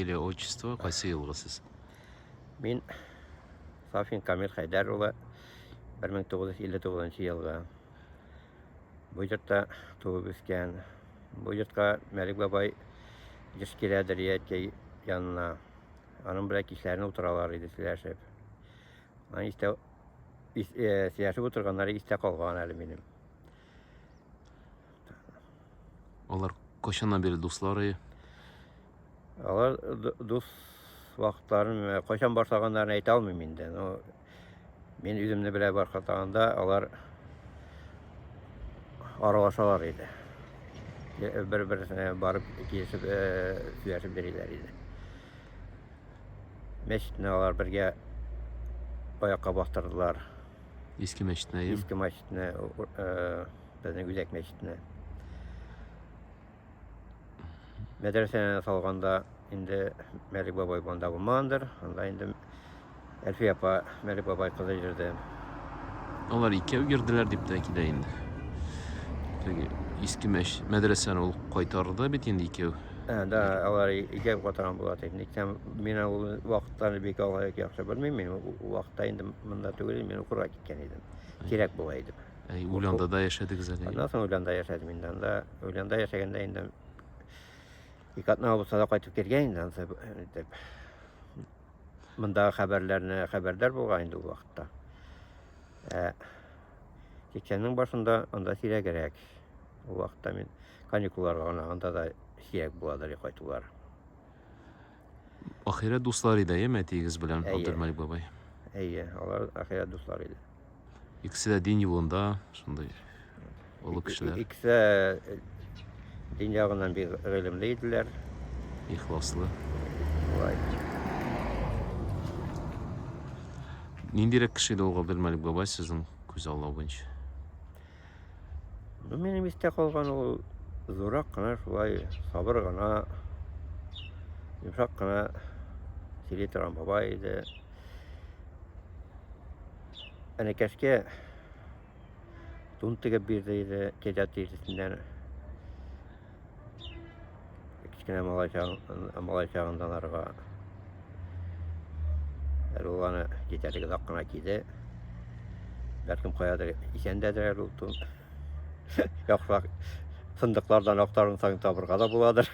Фамилия, отчество, кайсы елгы сез? Мин Сафин Камил Хәйдәр улы 1959 елгы. Бу йортта туып үскән. Бу йортка Мәлик бабай еш килә Дәрияткә янына. Аның белән кичләрен утыралар иде сөйләшеп. Аны истә э, сөйләшеп утырганнары истә калган әле минем. Алар кошана бер дуслары Алар дус вакытларын э, кайчан башлаганнарын әйтә алмыйм инде. Но мин үземне белә башлаганда алар аралашалар иде. Э, Бер-берсенә барып килешеп, э, сөйләшеп йөриләр иде. Мәчетне алар бергә аякка бастырдылар. Иске мәчетне. Иске мәчетне, безнең Үзәк мәчетне. мәдрәсәне салганда инде Мәлик бабай монда булмагандыр. Анда инде Әлфия апа Мәлик бабай кызы йөрде. Алар икәү йөрделәр дип тә килә инде. Теге иске мәш мәдрәсәне ул кайтарды бит инде икәү. Ә, да, алар икәү катырган була ди. Ник тә мин ул вакытларны бик алай яхшы белмим. Мин ул вакытта инде монда түгел, мин укырга киткән идем. Кирәк була иде. Ә Курку- Ульяндада яшәдегез әле. Аннан соң Ульянда яшәдем инде. Анда Ульянда яшәгәндә инде ике атна булса да кайтып кергән инде ансы итеп. Мондагы хәбәрләрне хәбәрдар булган инде ул вакытта. Ә 80-нең башында анда сирәгрәк. Ул вакытта мин каникулларга гына анда да сирәк буладыр кайтулар. Ахирәт дуслар иде, әйеме, әтиегез белән Әйе. Абдулмәлик бабай? Әйе, алар ахирәт дуслар иде. Икесе дә дин юлында, шундый олы кешеләр, Икесе э, дин ягыннан бик гыйлемле иделәр. ихласлы. Шулай. Ниндирәк кеше иде ул Габделмәлик бабай сезнең күз аллау буенча? Ну, минем истә калган ул зурак кына шулай сабыр гына, йомшак кына сөйли торган бабай иде. Әнәкәшкә тун тегеп бирде иде, кәҗә тиресеннән. кечкенә малай чагындан арга ул аны китәргә озак кына киде бәлкем каядыр исән дәдер ул тун яхшырак сындыклардан актарын саң табырга да буладыр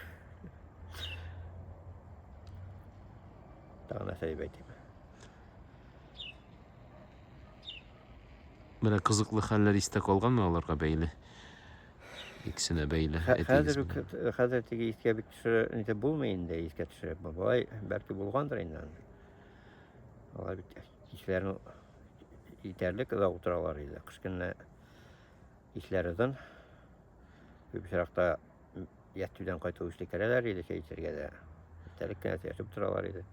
тагын нәрсә дип әйтим менә кызыклы хәлләр истә калганмы аларга бәйле Иксенә бәйле. Хәзер үк хәзер теге искә бит төшерә, инде булмый инде искә төшерә. Бабай бәлки булгандыр инде. Алар бит кичләрен итәрлек озак утыралар иде. Кыш көнне кичләр озын. Күп очракта ятүдән кайту үсте керәләр иде, әйтергә дә. Тәреккә ятып торалар иде.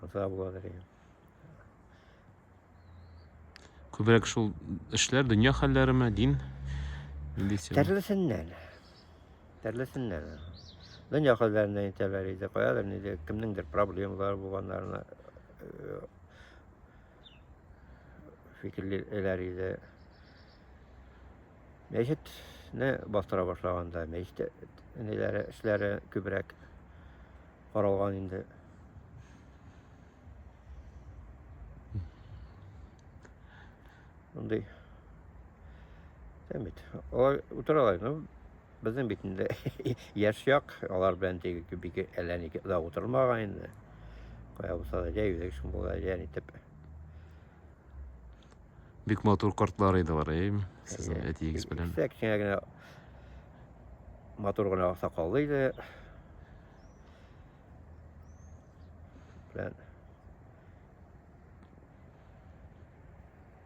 Ата була дигән. Күбрәк шул эшләр дөнья хәлләреме, дин? Төрлесеннән. Төрлесеннән. Дөнья хәлләренә итәләр иде, каядыр ниде, кемнеңдер проблемалары булганнарына э, фикерлиләр иде. Мәчетне бастыра башлаганда мәчет ниләре эшләре күбрәк каралган инде. Мондый Әмит, алар утыралар, ну, безнең бит инде яшь як, алар белән теге бик әллә ни да утырмаган инде. Кая булса да, җәй үзәк шым булса, җәй итеп. Бик матур картлар иде алар, әй, сезнең әтиегез белән. Исә кечкенә генә матур гына сакаллы иде. Белән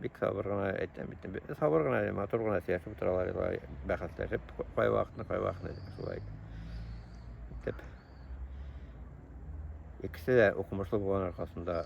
бик сабыр гына әйтәм бит. Сабыр гына, матур гына сөйләшеп утыралар, бәхәсләшеп, кай вакытны, кай вакытны шулай. Дип. Икесе дә укымышлы булган аркасында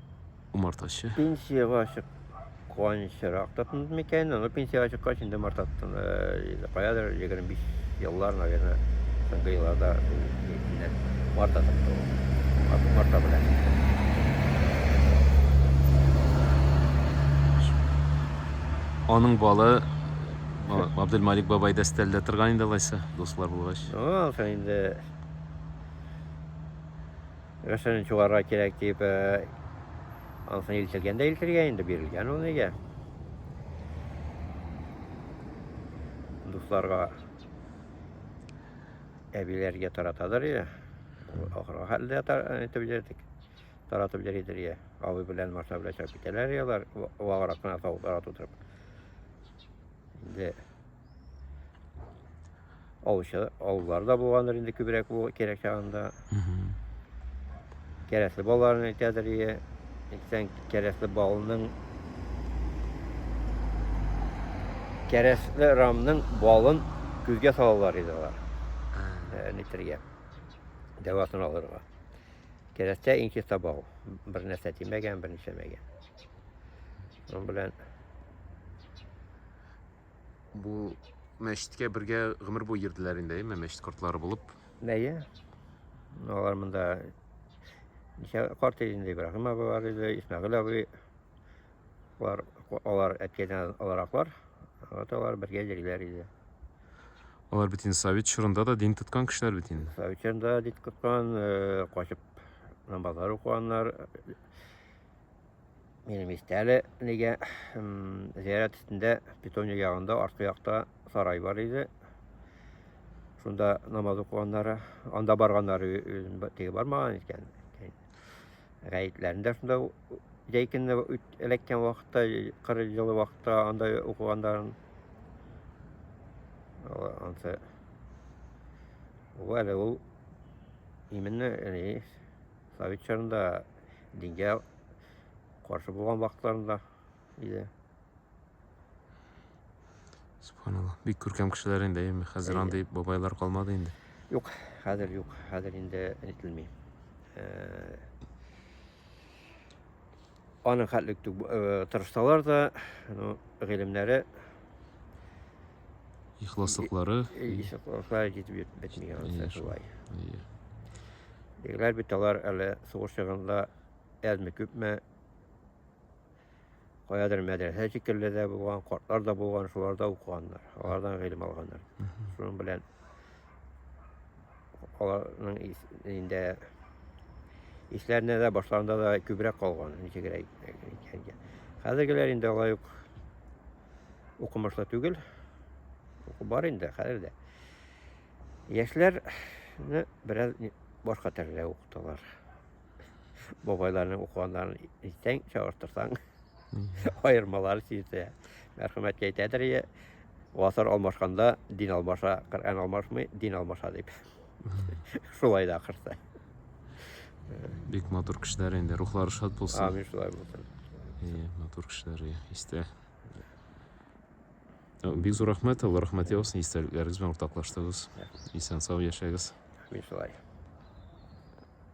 Умартачы. Пенсиягә чык куанычрак та тынып микән, аны пенсиягә чыккач инде мартаттан каядыр 25 еллар, наверное, соңгы елларда марта тотты. Марта белән. Аның балы Абдулмалик бабай дәстәлдә торган инде алайса, дуслар булгач. Ну, алса инде Нәрсәне чуарга кирәк дип, э, ансын илтелгән дә илтергә инде бирелгән ул нигә. Дусларга әбиләргә таратадыр иә ахыры хәлдә итеп җирдек таратып йөридер иә абый белән машина белән чыгып китәләр иә алар ваграк кына таулар тутырып инде Алучы, алулар да булгандыр инде күбрәк бу кирәк чагында. Кәрәсле балаларын әйтәдер ие. Әйтсәң, кәрәсле балының кәрәсле рамның балын күзгә салалар иде алар. Нитергә. Дәвасын алырга. Кәрәстә иң чиста бал. Бер нәрсә тимәгән, бер нәрсә мәгән. Шуның белән Бу мәчеткә бергә гомер буе йөрделәр инде, әйме, мәчет кортлары булып. Әйе. Алар монда ничә карт инде Ибраһим абый бар иде, Исмәгыйль абый. Алар алар әткәдән алараклар. Вот алар бергә йөриләр иде. Алар бит инде совет чорында да дин тоткан кешеләр бит инде. Совет чорында дин тоткан, э, качып намазлар укыганнар, Менә мистәле нигә зиярат өстендә питония ягында арткы якта сарай бар иде. Шунда намаз укыганнары, анда барганнары теге бармаган икән. Гаетләрендә шунда җәйкенне эләккән вакытта, кыр җылы вакытта анда укыганнарын. Ансы Вәле ул именно совет чорында дингә каршы булган вакытларында иде. Субханалла. Бик күркәм кешеләр инде, әйеме? Хәзер андый бабайлар калмады инде. Юк, хәзер юк, хәзер инде әйтелми. Э, Аның хәтлек э, тырышсалар да, ну, гыйлемнәре Ихласлыклары. Ихласлыклары җитеп бетми янса шулай. Егетләр бит алар әле сугыш чагында әзме күпме каядыр мәдрәсә шикелле дә булган, картлар да булган, шуларда укыганнар, алардан гыйлем алганнар. Шуның белән аларның инде исләренә дә башларында да күбрәк калган ничегрәк икәнгә хәзергеләр инде алай ук укымышлы түгел уку бар инде хәзер дә яшьләрне бераз башка төрле укыталар бабайларның укыганнарын итсәң, чагыштырсаң, аермалары сизде. Мәрхәмәт әйтәдер, е, гасыр алмашканда дин алмаша, Коръән алмашмый, дин алмаша дип. Шулай да ахырсы. Бик матур кешеләр инде, рухлары шат булсын. Амин, шулай булсын. Иә, матур кешеләр, иә, истә. Ә, Бик зур рәхмәт, Алла рәхмәт яусын, истәлекләрегез белән уртаклаштыгыз. Исән сау яшәгез. Амин, шулай.